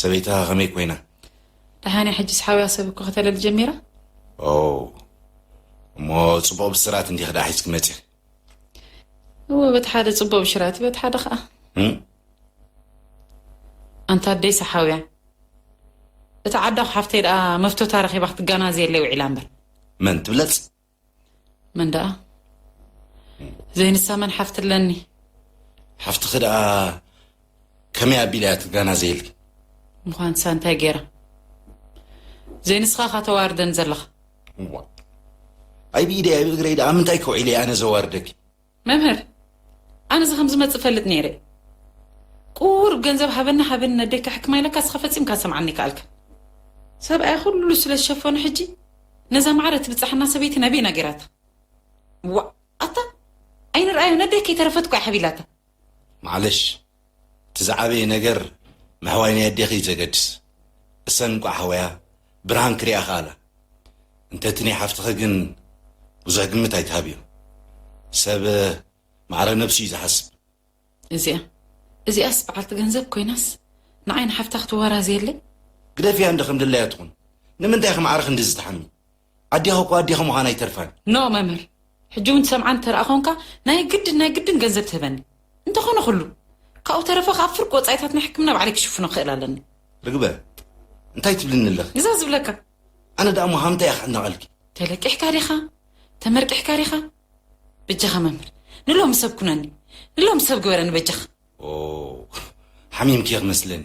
ሰበይትኻ ከመይ ኮይና ደሓንያ ሕጂስ ሓውያ ሰብ እኮ ከተለል ጀሚራ ኦ እሞ ፅቡቕ ብስራት እንዲኽ ደኣ ሒዝኪ መፅእ እወ በቲ ሓደ ፅቡቕ ብሽራት በቲ ሓደ ከዓ ኣንታ ኣደይ ሰሓውያ እቲ ዓዳኹ ሓፍተይ ደኣ መፍቶታ ረኺባ ክትጋናዘየለይ ውዒላ እምበር መን ትብለፅ መን ደኣ ዘይንሳ መን ሓፍቲ ኣለኒ ሓፍትኺ ደኣ ከመይ ኣቢላ እያ ትጋና ዘይልኪ ምዃንሳ እንታይ ገይራ ዘይንስኻ ካ ተዋርደን ዘለኻ እዋ ኣይ ብኢደይ ኣይ ብእግረይ ደኣ ምንታይ ከውዒለ እየ ኣነ ዘዋርደኪ መምህር ኣነስ ከም ዝመጽእ እፈልጥ ኔረ ቁሩብ ገንዘብ ሃበኒ ሃበኒ ነደይ ከሕክማ ኢለካ እስኻ ፈጺምካ ክትሰምዓኒ ኣይከኣልካን ሰብኣያ ኩሉ ስለ ዝሸፈኖ ሕጂ ነዛ ማዕረ ትብጽሓና ሰበይቲ ናበይና ጌራታ ዋእ ኣታ ኣይንርኣዮ ነደይ ከይተረፈት እኮ እያ ሓቢላታ ማዕለሽ እቲ ዝዓበየ ነገር ምሕዋይ ናይ ኣዴኺ እዩ ዘገድስ እሰን እንቋዕ ኣሕወያ ብርሃን ክሪኣ ከኣላ እንተ እቲ ናይ ሓፍትኺ ግን ብዙሕ ግምት ኣይትሃብዮ ሰብ ማዕረ ነብሱ እዩ ዝሓስብ እዚኣ እዚኣስ በዓልቲ ገንዘብ ኮይናስ ንዓይ ንሓፍታ ክትዋራዘየለይ። ግደፍያ እንዶ ከምድላያ ትኹን ንምንታይ ኢኺ ማዕረ ክንድዚ ትሓሚ ኣዴኻ እኮ ኣዴኻ ምዃና ኣይተርፋን። ን መምህር ሕጂ ውን ትሰምዓኒ ተርኣ ኮንካ ናይ ግድን ናይ ግድን ገንዘብ ትህበኒ እንተ ኮነ ኩሉ ካብኡ ተረፈ ከኣ ፍርቂ ወጻኢታት ናይ ሕክምና ባዕለይ ክሽፍኖ ክእል ኣለኒ። ርግበ እንታይ ትብልኒ ኣለኺ? ግዛ ዝብለካ። ኣነ ደኣ እሞ ሃምንታይ እየ ክዕነቐልኪ? ተለቂሕካ ዲኻ ተመርቂሕካ ዲኻ? በጃኻ መምህር ንሎሚ ሰብ ኩነኒ ንሎሚ ሰብ ግበረኒ በጃኻ። ኦው ሓሚምኪ እየ ክመስለኒ።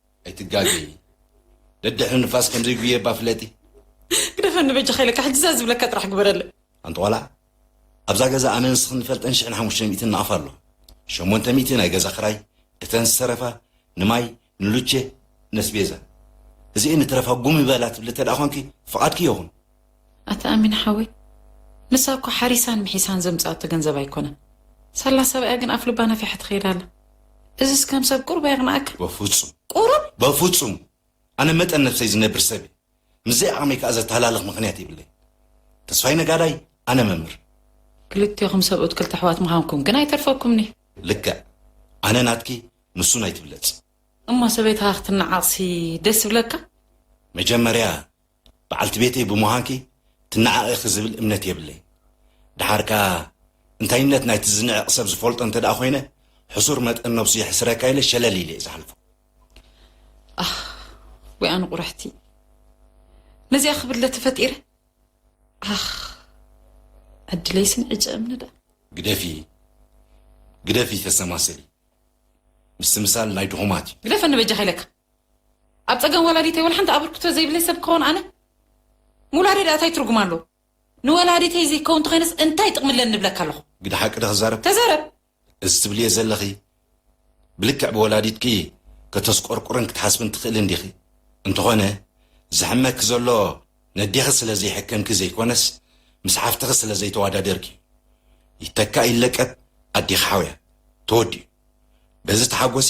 ኣይትጋገይ ደድሕሪ ንፋስ ከምዘይ ጉየባ ፍለጢ ግደፈኒ በጃኻ ኢለካ ሕጂ እዛ ዝብለካ ጥራሕ ግበረለይ ኣንቲ ቆልዓ ኣብዛ ገዛ ኣነ ንስኽን ንፈልጠን ሽሕን ሓሙሽተ ሚእትን ንኣፍ ኣሎ ሸሞንተ ሚእቲ ናይ ገዛ ክራይ እተን ዝተረፋ ንማይ ንሉቼ ነስቤዛ እዚኤን ንትረፋ ጉም ይበላ ትብሊ እተ ደኣ ኳንኪ ፍቓድኪ የኹን ኣታ ኣሚን ሓወይ ንሳ እኮ ሓሪሳን ምሒሳን ዘምጽኣቶ ገንዘብ ኣይኮነን ሳላ ሰብኣያ ግን ኣፍ ልባ ነፊሓ ትኸይድ ኣላ እዚስ ከም ሰብ ቁሩብ ኣየቕንኣካ በፉጹም ቁሩብ በፉጹም ኣነ መጠን ነብሰይ ዝነብር ሰብ እየ ምስ ዘይዓቕመይ ከኣ ዘተሃላልኽ ምኽንያት የብለይን ተስፋይ ነጋዳይ ኣነ መምህር ክልቴኹም ሰብኡት ክልተ ኣሕዋት ምዃንኩም ግን ኣይተርፈኩምን'ዩ። ልክዕ ኣነ ናትኪ ንሱ ናይ ትብለጽ። እሞ ሰበይትኻ ክትነዓቕሲ ደስ ይብለካ? መጀመርያ በዓልቲ ቤተይ ብምዃንኪ ትነዓቒ ኢኺ ዝብል እምነት የብለይን። ደሓር ከኣ እንታይነት ናይቲ ዝንዕቕ ሰብ ዝፈልጦ እንተድኣ ኾይነ ሕሱር መጠን ነብሱ የሕስረካ ኢለ ሸለል ኢለ'የ ዝሓልፎ። ኣኽ ወይ ኣነ ቁርሕቲ ነዚኣ ክብድለ ተፈጢረ ኣኽ ዕድለይ ስን ዕጨ እምኒ ደኣ። ግደፊ ግደፊ ተሰማስሊ ምስትምሳል ናይ ድኹማት እዩ። ግደፈኒ በጃኻ ኢለካ። ኣብ ጸገም ወላዲተይ ወላ ሓንቲ ኣበርክቶ ዘይብለይ ሰብ ክኸውን ኣነ ምውላደይ ድኣ ታይ ትርጉም ኣለዎ ንወላዲተይ ዘይከውን ተኾይነስ እንታይ ጥቅሚ ኣለኒ እብለካ ኣለኹ። ግደ ሓቂ ዶ ክዛረብ? ተዛረብ! እዚ ትብልዮ ዘለኺ ብልክዕ ብወላዲትኪ ከተስቆርቁርን ክትሓስብን ትኽእልን ዲኺ? እንተኾነ ዝሕመኪ ዘሎ ነዴኺ ስለ ዘይሕከምኪ ዘይኮነስ ምስ ሓፍትኺ ስለ ዘይተዋዳደርኪ እዩ። ይተካእ ይለቀብ ኣዴኺ ሓውያ። ተወዲኡ። በዚ ተሓጎሲ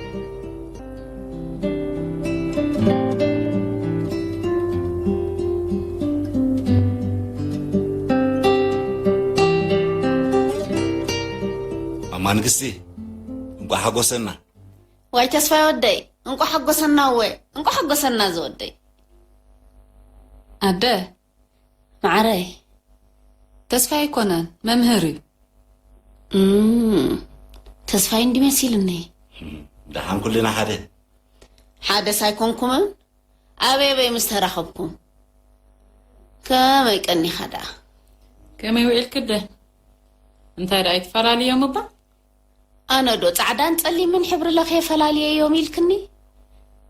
ማንግስቲ እንቋ ሓጎሰና ዋይ ተስፋይ ወደይ እንቋ ሓጎሰና እወ እንቋ ሓጎሰና ዝወደይ ኣደ ማዓረይ ተስፋይ ኣይኮነን መምህር እዩ። እም ተስፋይ እንዲ መሲልኒ። ደሓን ኩልና ሓደ ሓደስ ኣይኮንኩምን ኣበይ ኣበይ ምስ ተራኸብኩም ከመይ ቀኒኻ ደኣ ከመይ ውዒልክደ እንታይ ደኣ ይትፈላልዮም እባ ኣነ ዶ ጻዕዳን ጸሊምን ሕብሪ ለኽየ ፈላልየዮም ኢልክኒ?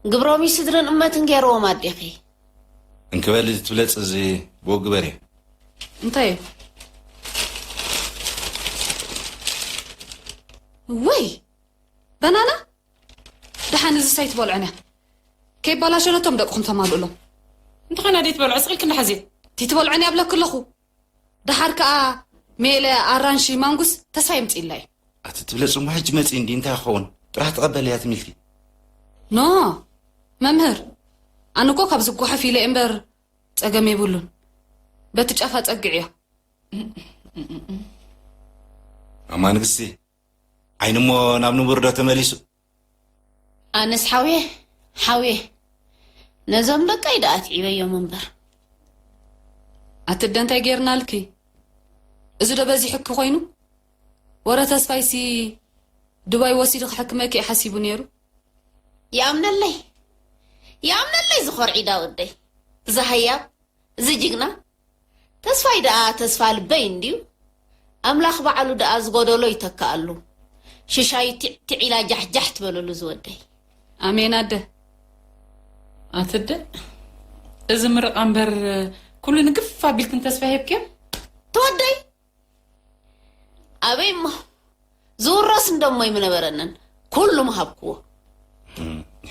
ግብሮም'ዩ ስድርን እመትን ገይርዎም ኣዴኺ። እንኪ በሊ እዚ ትብለጺ እዚ ብኡ ግበርዮ። እንታይ እዩ? እዋይ በናና ደሓን እዝስ ኣይትበልዑን እያ ከይባላሸ ነቶም ደቅኹም ተማልኡሎም። እንተኾነ ደይትበልዑ ስቕ ኢልክን ደሓዚ። ደይትበልዑን እያ እብለኪ ኣለኹ። ደሓር ከኣ ሜለ ኣራንሺ ማንጉስ ተስፋ የምጺእላ እዩ። ኣቲ ትብለ ጽምዋ ሕጂ መጺ እንዲ እንታይ ክኸውን ጥራሕ ተቐበል እያ ትምልቲ። ን መምህር ኣነ እኮ ካብዚ ጓሐፍ ኢለ እምበር ጸገም የብሉን በቲ ጫፍ ኣጸግዕዮ። ማማ ንግስቲ ዓይኒ እሞ ናብ ንቡር ዶ ተመሊሱ። ኣነስ ሓውየ ሓውየ ነዞም ደቀይ ደኣ ኣትዒበዮም እምበር። ኣቲ ኣደ እንታይ ጌርናልኪ እዚ ዶ በዚሑኪ ኮይኑ ወረ ተስፋይሲ ዱባይ ወሲዱ ክሕክመኪ እዩ ሓሲቡ ኔሩ። ይኣምነለይ ይኣምነለይ ዝኮርዒዳ ወደይ። እዛ ሃያብ እዚ ጅግና ተስፋይ ደኣ ተስፋ ልበይ እንድዩ ኣምላኽ ባዕሉ ደኣ ዝጎደሎ ይተክኣሉ ሽሻዩ ቲዕ ቲዕ ኢላ ጃሕ ጃሕ ትበለሉ ዝወደይ። ኣሜን ኣደ ኣትደ እዚ ምርቓ እምበር ኩሉ ንግፍ ኣቢልክን ተስፋ ሂብክዮ። ተወደይ ኣበይ እሞ ዝውረስ እንደሞ ይምነበረንን ኩሉ ምሃብክዎ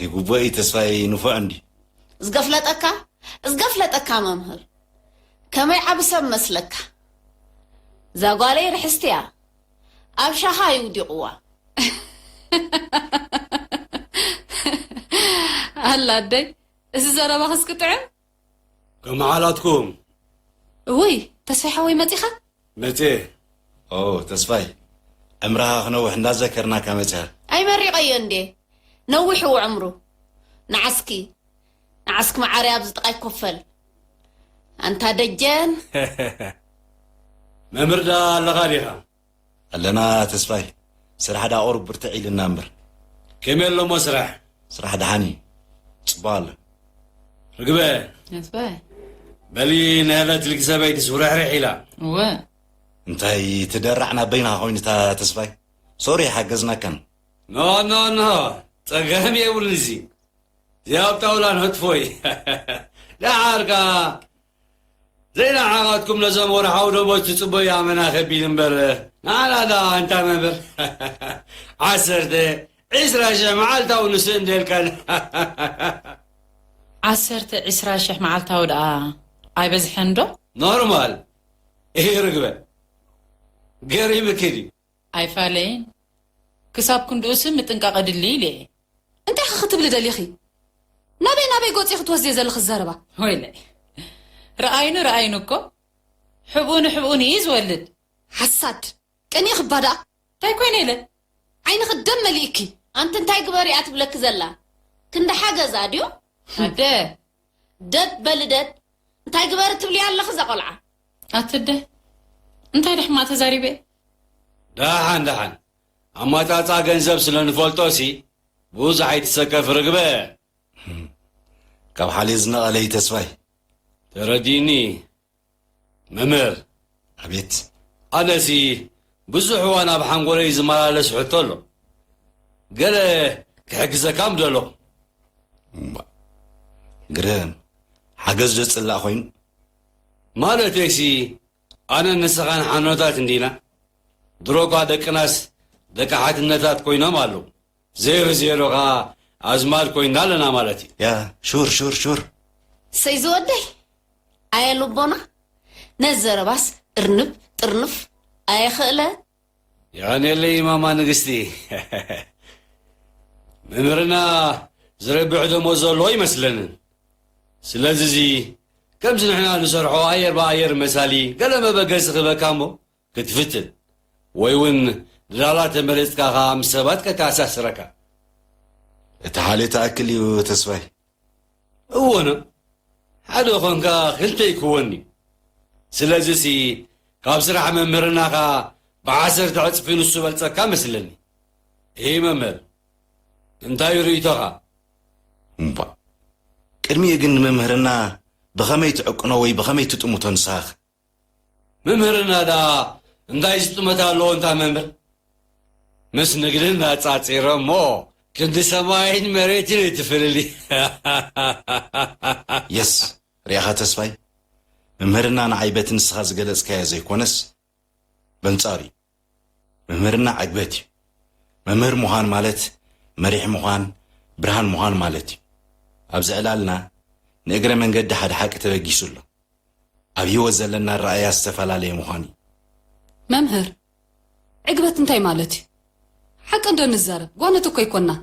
ይግቦ እዩ ተስፋይ ንፉዕ እንዲ ዝገፍለጠካ ዝገፍለጠካ መምህር ከመይ ዓቢ ሰብ መስለካ እዛ ጓለይ ርሕስቲ እያ ኣብ ሻኻ እዩ ውዲቕዋ ኣላ ኣደይ እዚ ዘረባኽስ ክጥዕም ከመዓላትኩም እውይ ተስፋይ ሓወይ መፂኻ? መፅየ ኦው ተስፋይ ዕምርኻ ክነውሕ እንዳዘከርናካ መፅኻ። ኣይመሪቐዮ እንድየ ነዊሕዎ ዕምሩ ንዓስኪ ንዓስኪ መዓረይ ኣብዚ ጥቓይ ኮፈል ኣንታ ደጀን። መምህር ደኣ ኣለኻ ዲኻ? ኣለና ተስፋይ ስራሕ ዳኣ ቁሩብ ብርትዕ ኢልና እምበር። ከመይ ኣሎሞ ስራሕ? ስራሕ ደሓን እዩ ጽቡቕ ኣሎ። ርግበ! ተስፋይ! በሊ ንሀለት ልጊ ሰበይትስ ውርሕርሕ ኢላ። እወ። እንታይ እቲ ደራዕ ናብ በይንኻ ኮይኑ እታ ተስፋይ? ሶሪ ሓገዝናካን። ኖ ኖ ኖ ጸገም የብሉን እዚ እዚ ኣብ ጣውላ ንህጥፎ እዩ። ደሓር ከኣ ዘይነዓቓትኩም ነዞም ወርሓዊ ደሞዝ ትጽበዩ ኣመና ከቢድ እምበር ንዓና ደኣ እንታይ መምህር ዓሰርተ ዒስራ ሽሕ መዓልታዊ ንሱ እንድየልካና ዓሰርተ ዒስራ ሽሕ መዓልታዊ ደኣ ኣይበዝሐንዶ? ኖርማል እዩ ርግበ ገሪምኪ ድዩ? ኣይፋለይን ክሳብ ክንድኡሲ ምጥንቃቕ የድሊ ኢለ እየ። እንታይኸ ክትብሊ ደሊኺ? ናበይ ናበይ ጎጽ ኢኺ ትወስድዮ ዘለኺ ዘረባ? ወይለይ ርኣይኑ ርኣይኑ እኮ ሕብኡ ንሕብኡ ንእይ ዝወልድ። ሓሳድ! ቀኒእኺ እባ ደኣ! እንታይ ኮይነ ኢለ? ዓይንኺ ደም መሊእኪ! ኣንቲ እንታይ ግበሪ እያ ትብለኪ ዘላ? ክንዲ ሓገዝ ኣድዩ? ኣደ! ደብ በሊ ደብ እንታይ ግበሪ ትብልያ ኣለኺ እዛ ቆልዓ። ኣትደ እንታይ ዶ ሕማቅ ተዛሪበ እየ። ዳሓን ዳሓን ኣማጻጽኣ ገንዘብ ስለ ንፈልጦ ሲ ቡዙሕ ኣይትሰከፊ ርግበ። ካብ ሓልዮ ዝነቀለ እዩ ተስፋይ። ተረዲእኒ መምህር፣ ኣቤት። ኣነሲ ብዙሕ እዋን ኣብ ሓንጎለይ ዝመላለስ ሕቶ ኣሎ። ገለ ክሕግዘካ ምደለኹ። እምባእ ግርም ሓገዝ ዶ ጽላእ ኮይኑ? ማለተይሲ ኣነን ንስኻን ሓኖታት እንዲና? ድሮኳ ደቅናስ ደቂ ሓትነታት ኮይኖም ኣለዉ። ዜሮ ዜሮ ከኣ ኣዝማድ ኮይና ኣለና ማለት እዩ። ያ ሹር ሹር ሹር። ሰይ ዝወደይ ኣየ ልቦና ነዚ ዘረባስ እርንብ ጥርንፍ ኣየ ክእለ። የቐንየለይ ማማ ንግስቲ። መምህርና ዝረብሕ ደሞዝ ዘሎ ኣይመስለንን። ስለዚ እዚ ከምዚ ንሕና ንሰርሖ ኣየር ብኣየር መሳሊ ገለ መበገሲ ክህበካ እሞ ክትፍትን ወይ ውን ድላላ ተመሪጽካ ከኣ ምስ ሰባት ከተኣሳስረካ። እቲ ሓልዮት ትኣክል እዩ ተስፋይ። እወ'ኖ ሓደ ኮንካ ክልተ ኣይክወንን'ዩ ስለዚ'ሲ ካብ ስራሕ መምህርናኻ ብዓሰርተ ዕጽፊ ንሱ እበልጸካ መስለኒ እይ መምህር እንታይ'ዩ ርእይቶኻ? እምቧእ ቅድሚኡ ግን ንመምህርና ብኸመይ ትዕቅኖ ወይ ብኸመይ ትጥምቶ ንስኻ'ኸ ምምህርና ደኣ እንታይ ዝጥመት ኣለዎ እንታ መምህር ምስ ንግድን ኣጻጺረ እሞ ክንዲ ሰማይን መሬትን እዩ ትፍልሊ የስ ርኣኻ ተስፋይ ምምህርና ንዓይ በቲ ንስኻ ዝገለጽካዮ ዘይኮነስ በንጻሩ እዩ። ምምህርና ዕግበት እዩ። መምህር ምዃን ማለት መሪሕ ምዃን፣ ብርሃን ምዃን ማለት እዩ። ኣብዚ ዕላልና ንእግረ መንገዲ ሓደ ሓቂ ተበጊሱ ኣሎ። ኣብ ህይወት ዘለና ኣረኣእያ ዝተፈላለየ ምዃኑ እዩ። መምህር፣ ዕግበት እንታይ ማለት እዩ? ሓቂ እንዶ ንዛረብ፣ ጓኖት እኮ ኣይኮናን።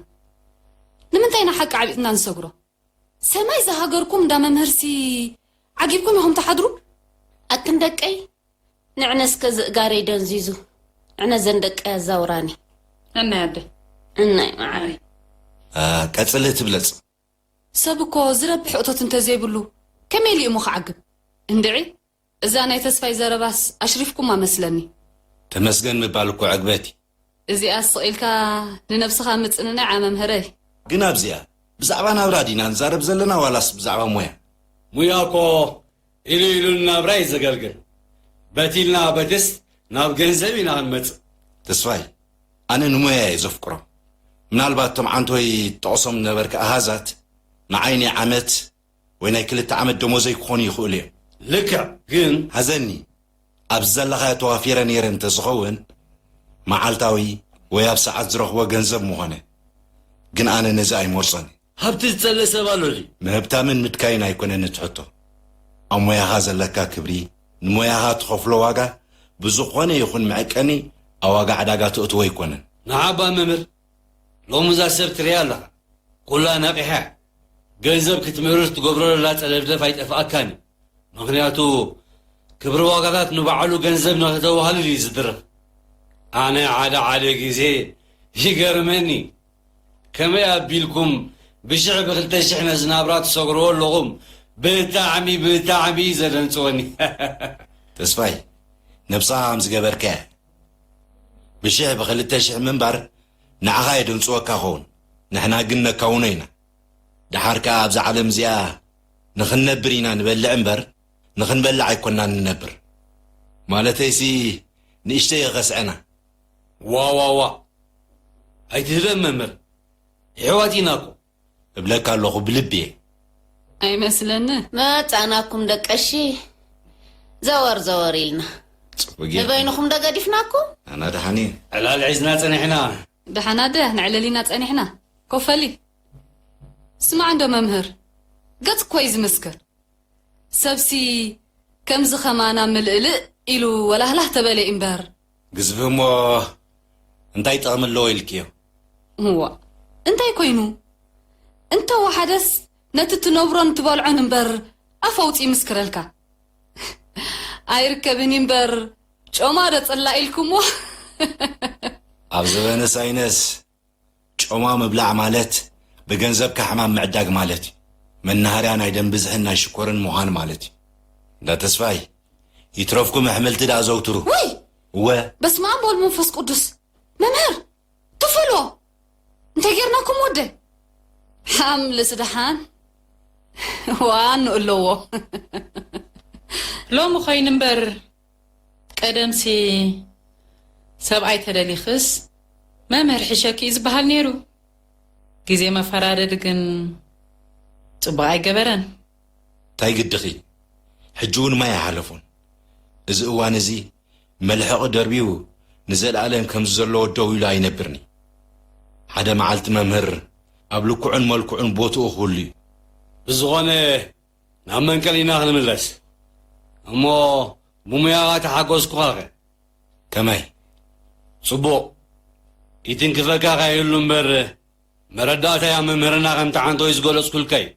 ንምንታይ ኢና ሓቂ ዓቢጥና ንሰግሮ? ሰማይ ዝሃገርኩም እንዳ መምህርሲ ዓጊብኩም ኢኹም ትሓድሩ። ኣክን ደቀይ ንዕነ እስከ ዝእጋረይ ደንዚዙ ዕነ ዘን ደቀይ ኣዛውራኒ። ነናይ ኣደይ። እናይ መዓረይ። ኣህ ቀጽሊ እቲ ብለጽ። ሰብ እኮ ዝረብሕ እቶት እንተዘይብሉ ከመይ ኢሉ እዩሞ ክዓግብ እንድዒ። እዛ ናይ ተስፋይ ዘረባስ ኣሽሪፍኩማ መስለኒ። ተመስገን ምባል እኮ ዕግበት እዩ። እዚኣስ ስቕ ኢልካ ንነብስኻ ምጽንናዕ እያ መምህረይ። ግን ኣብዚኣ ብዛዕባ ናብራ ዲና ንዛረብ ዘለና ዋላስ ብዛዕባ ሞያ? ሙያ እኮ ኢሉ ኢሉ ንናብራ እዩ ዘገልግል። በቲ ኢልና በትስ ናብ ገንዘብ ኢና ክንመጽእ። ተስፋይ ኣነ ንሞያይ እየ ዘፍቅሮ። ምናልባት እቶም ዓንተወይ ትጠቕሶም ዝነበርካ ኣሃዛት ንዓይ ናይ ዓመት ወይ ናይ ክልተ ዓመት ደሞዘይ ክኾኑ ይኽእሉ እዮም። ልክዕ ግን ሐዘኒ ኣብዚ ዘለኻዮ ተዋፊረ ነይረ እንተዝኸውን መዓልታዊ ወይ ኣብ ሰዓት ዝረኽቦ ገንዘብ ምኾነ ግን ኣነ ነዚ ኣይመርፆን እየ። ሃብቲ ዝፀልእ ሰብ ኣሎ ድዩ? ምህብታምን ምድካይን ኣይኮነን እቲ ሕቶ ኣብ ሞያኻ ዘለካ ክብሪ ንሞያኻ ትኸፍሎ ዋጋ ብዝኾነ ይኹን መዐቀኒ ኣብ ዋጋ ዕዳጋ ተእትዎ ኣይኮነን። ንዓባ መምህር ሎሚ እዛ ሰብ ትሪኣ ኣለኻ ኩላ ነቒሓ እያ ገንዘብ ክትምህርስ ትገብሮ ዘላ ጸለፍለፍ ኣይጠፍኣካን እዩ ምኽንያቱ ክብሪ ዋጋታት ንባዕሉ ገንዘብ ንኸተዋህልል እዩ ዝድርኽ ኣነ ሓደ ሓደ ግዜ ይገርመኒ ከመይ ኣቢልኩም ብሽሕ ብክልተ ሽሕ ነዚ ናብራ ትሰግርዎ ኣለኹም ብጣዕሚ ብጣዕሚ እዩ ዘደንጽወኒ ተስፋይ ነብስኻ ከም ዝገበርከ ብሽሕ ብክልተ ሽሕ ምንባር ንዓኻ የደንጽወካ ይኸውን ንሕና ግን ነካውኖ ኢና ደሓር ከኣ ኣብዛ ዓለም እዚኣ ንኽንነብር ኢና ንበልዕ እምበር ንኽንበልዕ ኣይኮናን ንነብር ማለተይሲ ንእሽተይ የኸስዐና ዋዋዋ ኣይትህበን መምህር የሕዋት ኢናኮ። እብለካ ኣለኹ ብልቢየ። ኣይመስለንን። መጻእናኩም ደቀሺ ዘወር ዘወር ኢልና። ጽቡቅ ጌርካ። ንበይንኹም ዶ ገዲፍናኩም? ኣና ደሓን እየ። ዕላል ሒዝና ጸኒሕና። ደሓና ድያ ነዕልል ኢና ጸኒሕና። ኮፈሊ ስማዕ እንዶ መምህር ገጽ እኮ እዩ ዝምስክር። ሰብሲ ከምዚ ከማና ምልእልእ ኢሉ ወላህላህ ተበለ እዩ እምበር ግዝፊ እሞ እንታይ ጥቕሚ ኣለዎ ኢልክዮ? እዋእ እንታይ ኮይኑ እንተ ወሓደስ ነቲ ትነብሮን ትበልዖን እምበር ኣፍ ኣውጺ ይምስክረልካ ኣይርከብን እዩ እምበር ጮማ ዶ ጽላእ ኢልኩሞ። ኣብ ዘበነ ሳይነስ ጮማ ምብላዕ ማለት ብገንዘብካ ሕማም ምዕዳግ ማለት እዩ። መናሃርያ ናይ ደም ብዝሕን ናይ ሽኮርን ምዃን ማለት እዩ። እንዳ ተስፋይ ይትረፍኩም ኣሕምልቲ ድኣ ኣዘውትሩ። ውይ! እወ! በስመኣብ ወወልድ መንፈስ ቅዱስ መምህር ትፈልዎ እንታይ ጌርናኩም ወደይ ሓምልስ ደሓን ዋኑ እለዎ። ሎሚ ኮይኑ እምበር ቀደምሲ ሰብኣይ ተደሊኽስ መምህር ሕሸኪ እዩ ዝበሃል ነይሩ ግዜ መፈራረዲ ግን ፅቡቅ ኣይገበረን። ታይ ግድኺ ሕጂ ውን ማይ ኣይሓለፎን እዚ እዋን እዚ መልሕቒ ደርቢዩ ንዘልኣለም ከምዚ ዘለዎ ደው ኢሉ ኣይነብርንዩ ሓደ መዓልቲ መምህር ኣብ ልክዑን መልክዑን ቦትኡ ክህሉዩ። ብዝኾነ ናብ መንቀሊና ክንምለስ እሞ ብሙያኻ ተሓጎስኩኻኸ ከመይ ጽቡቕ ይትንክፈካ ከይህሉ እምበር መረዳእታይ ኣብ መምህርና ከም ተዓንቶ እዩ ዝገለጽኩልካ እዩ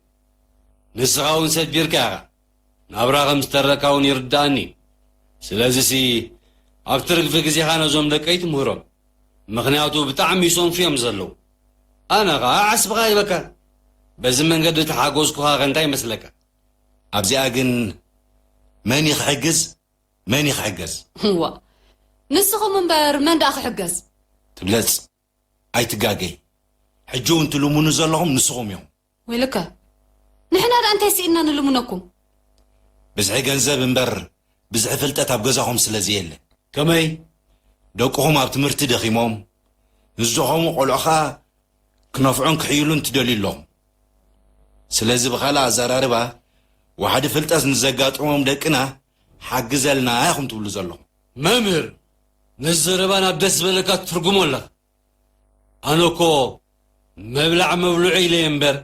ንስኻ እውን ሰዲርካ ኢኻ ናብራ ከም ዝተረካ እውን ይርዳእኒ ስለዚ ሲ ኣብ ትርግፊ ግዜኻ ነዞም ደቀይ ትምህሮም ምክንያቱ ብጣዕሚ ይሰንፉ እዮም ዘለዉ ኣነ ከኣ ዓስብኻ ሂበካ በዚ መንገዲ እተሓጎዝኩኻ ከ እንታይ ይመስለካ? ኣብዚኣ ግን መን እዩ ክሕግዝ መን እዩ ክሕገዝ? እዋእ ንስኹም እምበር መን ደኣ ክሕገዝ? ትብለጽ ኣይትጋገይ ሕጂ ውን ትልሙኑ ዘለኹም ንስኹም ኢኹም። ወይለከ ንሕና ድኣ እንታይ ስኢንና ንልምነኩም። ብዝሒ ገንዘብ እምበር ብዝሒ ፍልጠት ኣብ ገዛኹም ስለ ዘየለ። ከመይ ደቅኹም ኣብ ትምህርቲ ደኺሞም ምስ ዝኸሙ ቆልዑ ከኣ ክነፍዑን ክሕይሉን ትደልዩ ኣለኹም። ስለዚ ብኻልእ ኣዘራርባ ዋሕዲ ፍልጠት ንዘጋጥሞም ደቅና ሓግዘልና ኢኹም ትብሉ ዘለኹም። መምህር ነዚ ዘረባ ናብ ደስ ዝበለካ ትትርጉሞ ኣለኻ። ኣነ እኮ መብላዕ መብልዑ ኢለየ እምበር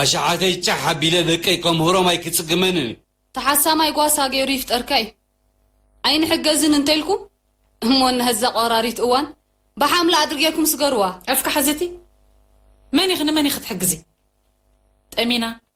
ኣሽሓተይ ጫሕ ኣቢለ ደቀይ ከምህሮም ኣይክጽግመንን እዩ። ተሓሳማይ ጓሳ ገይሩ ይፍጠርካ እዩ ኣይንሕገዝን እንተልኩም እሞ ነዛ ቆራሪት እዋን ብሓምላ ኣድሪ ገርኩም ስገርዋ። ኣፍካ ሕዝቲ መን ኢኺ ንመን ኢኺ ትሕግዚ ጠሚና።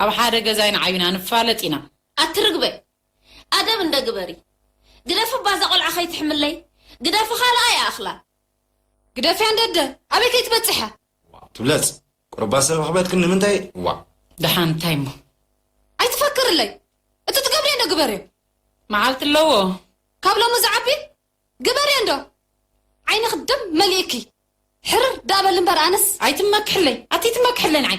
ኣብ ሓደ ገዛ ኢና ዓቢና ንፋለጥ ኢና። ኣቲ ርግበ ኣደብ እንደ ግበሪ ግደፊ እባ እዛ ቆልዓ ከይትሕምለይ ግደፊ ካልኣ ይኣክላ። ግደፍያ እንደደ ኣበይ ከይትበጽሐ። ዋው ትብለጽ ቁሩባ ሰብ ኣኽበድክን ንምንታይ ዋእ። ደሓን እንታይ እሞ ኣይትፈክርለይ እቲ ትገብርዮ እንዶ ግበርዮ። መዓልቲ ኣለዎ። ካብ ሎሚ ዝዓቢ ግበርዮ እንዶ ዓይንኺ ደም መሊእኪ ሕርር ደኣ በሊ እምበር ኣነስ። ኣይትመክሕለይ ኣቲ ትመክሕለይ ንዓይ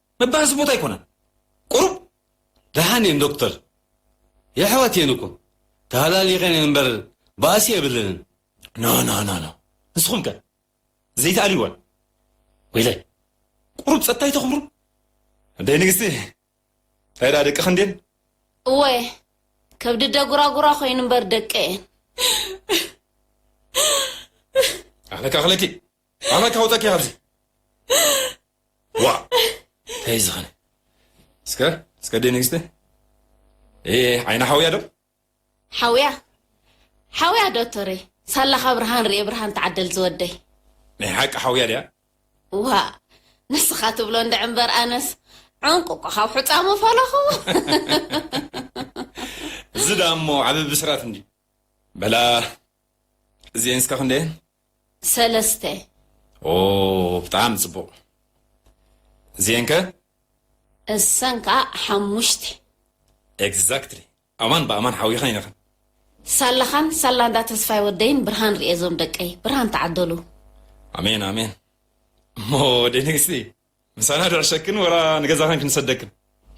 መባኣሲ ቦታ ኣይኮነን ቁሩብ ደሓን እየን ዶክተር የሕዋት እየን እኮ ተሃላሊቀን እየን እምበር ባእሲ የብለንን። ኖኖኖኖ ንስኹም ከ ዘይትኣልይወን ወይለይ ቁሩብ ጸጥታ ኣይተኽብሩ ኣደይ ንግስቲ እንታይ ደኣ ደቂ ክንዴን እወ ከብዲ ደጉራጉራ ኮይኑ እምበር ደቂ እየን ኣኽለኪ ኣኽለኪ ኣመ ካውጠኪ ኣብዚ ዋ እንታይ ዝኸነ እስከ እስከ ደ ንግስቲ ዓይና ሓውያ ዶ ሓውያ ሓውያ ዶክተረይ ሳላ ካብ ብርሃን ርኤ ብርሃን ተዓደል ዝወደይ ናይ ሓቂ ሓውያ ድያ ዋ ንስኻ ትብሎ እንደ ዕምበር ኣነስ ዕንቁ እኮ ካብ ሕፃሙ ፈለኹ እዚ ዳሞ ዓበቢ ብስራት እንዲ በላ እዚኤን እስከ ክንደየን ሰለስተ። ኦው ብጣዕሚ ጽቡቅ እዚኤን ከ? እሰን ከኣ ሓሙሽተ። ኤግዛክትሊ ኣማን ብኣማን ሓዊኻን ኢኻን። ሳላኻን ሳላ እንዳ ተስፋይ ወደይን ብርሃን ርኤ ዞም ደቀይ ብርሃን ተዓደሉ። ኣሜን ኣሜን እሞ ወደይ ንግስቲ ምሳና ድዕሸክን ወላ ንገዛኽን ክንሰደክን።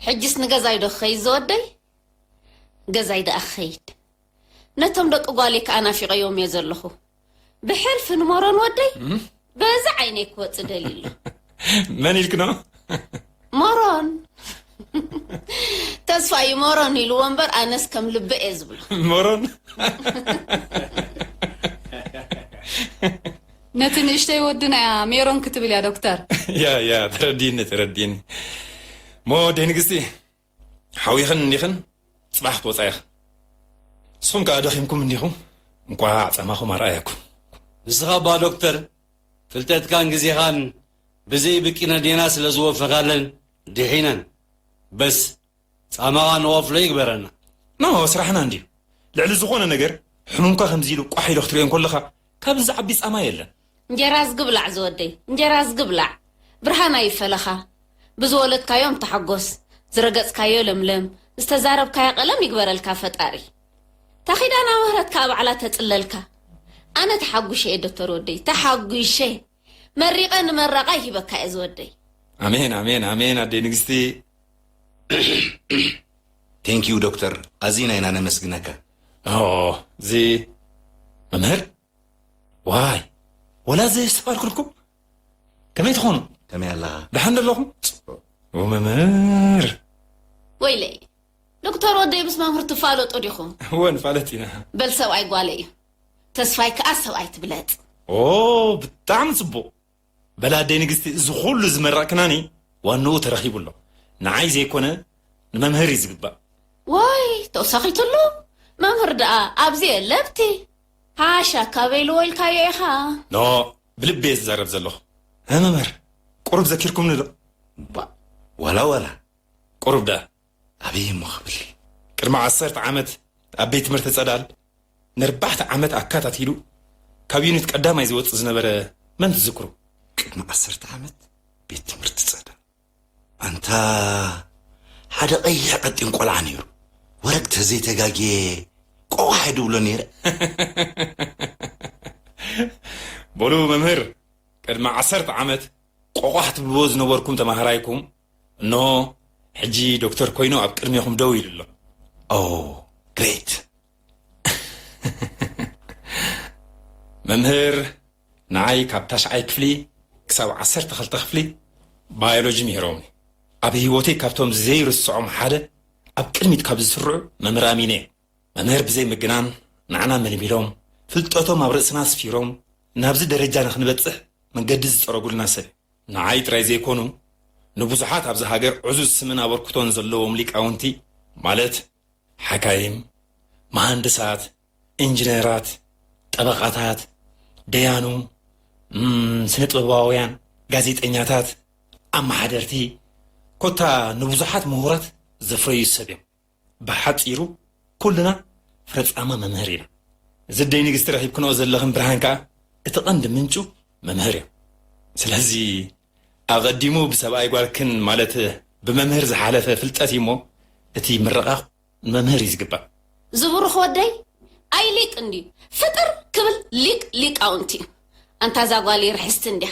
ሕጂስ ንገዛይ ዶ ክኸይድ ዝወደይ? ገዛይ ድኣ ክኸይድ ነቶም ደቂ ጓለይ ክኣ ናፊቐዮም እየ ዘለኹ። ብሕልፊ ንመሮን ወደይ በዚ ዓይነይ ክወጽእ ደልዩ ኣሎ። መን ኢልክኖ? መሮን ተስፋ እዩ መሮን ኢልዎ እምበር ኣነስ ከም ልበ እየ ዝብሎ። መሮን ነቲ ንእሽተይ ወድና እያ ሜሮን ክትብል እያ ዶክተር። ያ ያ ተረዲእኒ ተረዲእኒ እሞ ኣደይ ንግስቲ ሓዊኽን እኒኽን ፅባሕ ክትወፃ ኢኽን ንስኹም ከዓ ደኺምኩም እኒኹም እንኳዕ ፃማኹም ኣርኣየኩም። ንስኻ እባ ዶክተር ፍልጠትካን ግዜኻን ብዘይ ብቂነዴና ስለ ዝወፈኻለን ድሒነን በስ ጻማኻ ንወፍሎ ይግበረና። ኖ ስራሕና እንድዩ ልዕሊ ዝኾነ ነገር ሕሙምካ ከምዚ ኢሉ ቋሕ ኢሉ ክትሪኦ እንኮለኻ ካብዚ ዝዓቢ ጻማ የለን። እንጀራ ኣዝጊ ብላዕ ዝወደይ እንጀራ ኣዝጊ ብላዕ ብርሃን ኣይፈለኻ ብዝወለድካዮም ተሓጎስ ዝረገጽካዮ ለምለም ዝተዛረብካያ ቀለም ይግበረልካ ፈጣሪ እታ ኪዳና ምህረት ካኣ ባዕላ ተጽለልካ ኣነ ተሓጉሸ እየ ዶቶር ወደይ ተሓጒሸ መሪቀ ንመረቃ ይህበካ እየ ዝወደይ። ኣሜን ኣሜን ኣሜን ኣደይ ንግስቲ። Thank you ዶክተር ኣዚና ኢና ነመስግነካ። ኦህ እዚ መምህር ዋይ ወላ ዘየስተውዓልኩልኩም ከመይ ትኾኑ ከመይ ኣለኻ ደሓን ዶ ኣለኹም ጽቡቕ ኦ መምህር ወይለይ ዶክተር ወደይ ምስ መምህር ትፋለጡ ዲኹም እወ ንፋለት ኢና በል ሰብኣይ ጓለ እዩ ተስፋይ ክኣ ሰብኣይ ትብለጽ። ኦው ብጣዕሚ ጽቡቅ በል ኣደይ ንግስቲ እዚ ኩሉ ዝመረቅክናኒ ዋንኡ ተረኪቡ ኣሎ ንዓይ ዘይኮነ ንመምህር እዩ ዝግባእ። ዋይ ተውሳኺትሉ መምህር ድኣ ኣብዚ የለ ብቲ ሓሻ ካበይ ኢልዎ ኢልካዮ ኢኻ። ን ብልቢ እየ ዝዛረብ ዘለኹ። ን መምህር ቁሩብ ዘኪርኩምኒ ዶ? ባእ ዋላ ዋላ ቁሩብ ድኣ ኣበይ እሞ ክብል ቅድሚ ዓሰርተ ዓመት ኣብ ቤት ትምህርቲ ጸዳል ነርባሕተ ዓመት ኣካታቲሉ ካብ ዩኒት ቀዳማይ ዝወጽእ ዝነበረ መን ትዝክሩ? ቅድሚ ዓሰርተ ዓመት ቤት ትምህርቲ ጸዳል ኣንታ ሓደ ቀይሕ ቀጢን ቆልዓ ነይሩ ወረግ ተዘይተጋግየ ቆቋሕ ድብሎ ነይረ በሉ መምህር ቅድሚ ዓሰርተ ዓመት ቆቋሕ ትብልዎ ዝነበርኩም ተማሃራይኩም እኖ ሕጂ ዶክተር ኮይኑ ኣብ ቅድሜኹም ደው ኢሉ ኣሎ ኦ ግሬት መምህር ንዓይ ካብ ታሽዓይ ክፍሊ ክሳብ ዓሰርተ ክልተ ክፍሊ ባዮሎጂ ምሂሮምኒ ኣብ ህይወተይ ካብቶም ዘይርስዖም ሓደ ኣብ ቅድሚት ካብ ዝስርዑ መምህር ኣሚነ መምህር ብዘይ ምግናን ንዓና መልሚሎም ፍልጠቶም ኣብ ርእስና ኣስፊሮም ናብዚ ደረጃ ንክንበፅሕ መንገዲ ዝፀረጉልና ሰብ ንዓይ ጥራይ ዘይኮኑ ንብዙሓት ኣብዛ ሃገር ዕዙዝ ስምን ኣበርክቶን ዘለዎም ሊቃውንቲ ማለት ሓካይም፣ መሃንድሳት፣ ኢንጅነራት፣ ጠበቓታት፣ ደያኑ፣ ስነጥበባውያን፣ ጋዜጠኛታት፣ ኣመሓደርቲ ኮታ ንብዙሓት ምሁራት ዘፍረዩ ሰብ እዮም። ብሓጺሩ ኩልና ፍረጻማ መምህር ኢና። እዚ ኣደይ ንግስቲ ረኺብክንኦ ዘለኽን ብርሃን ከኣ እቲ ቀንዲ ምንጩ መምህር እዮ። ስለዚ ኣቐዲሙ ብሰብኣይ ጓልክን ማለት ብመምህር ዝሓለፈ ፍልጠት እዩ እሞ እቲ ምርቓ ንመምህር እዩ ዝግባእ። ዝቡሩኽ ወደይ ኣይ ሊቅ እንድዩ ፍጥር ክብል ሊቅ ሊቃውንቲ እዩ ኣንታ እዛ ጓለይ ርሕስቲ እንድያ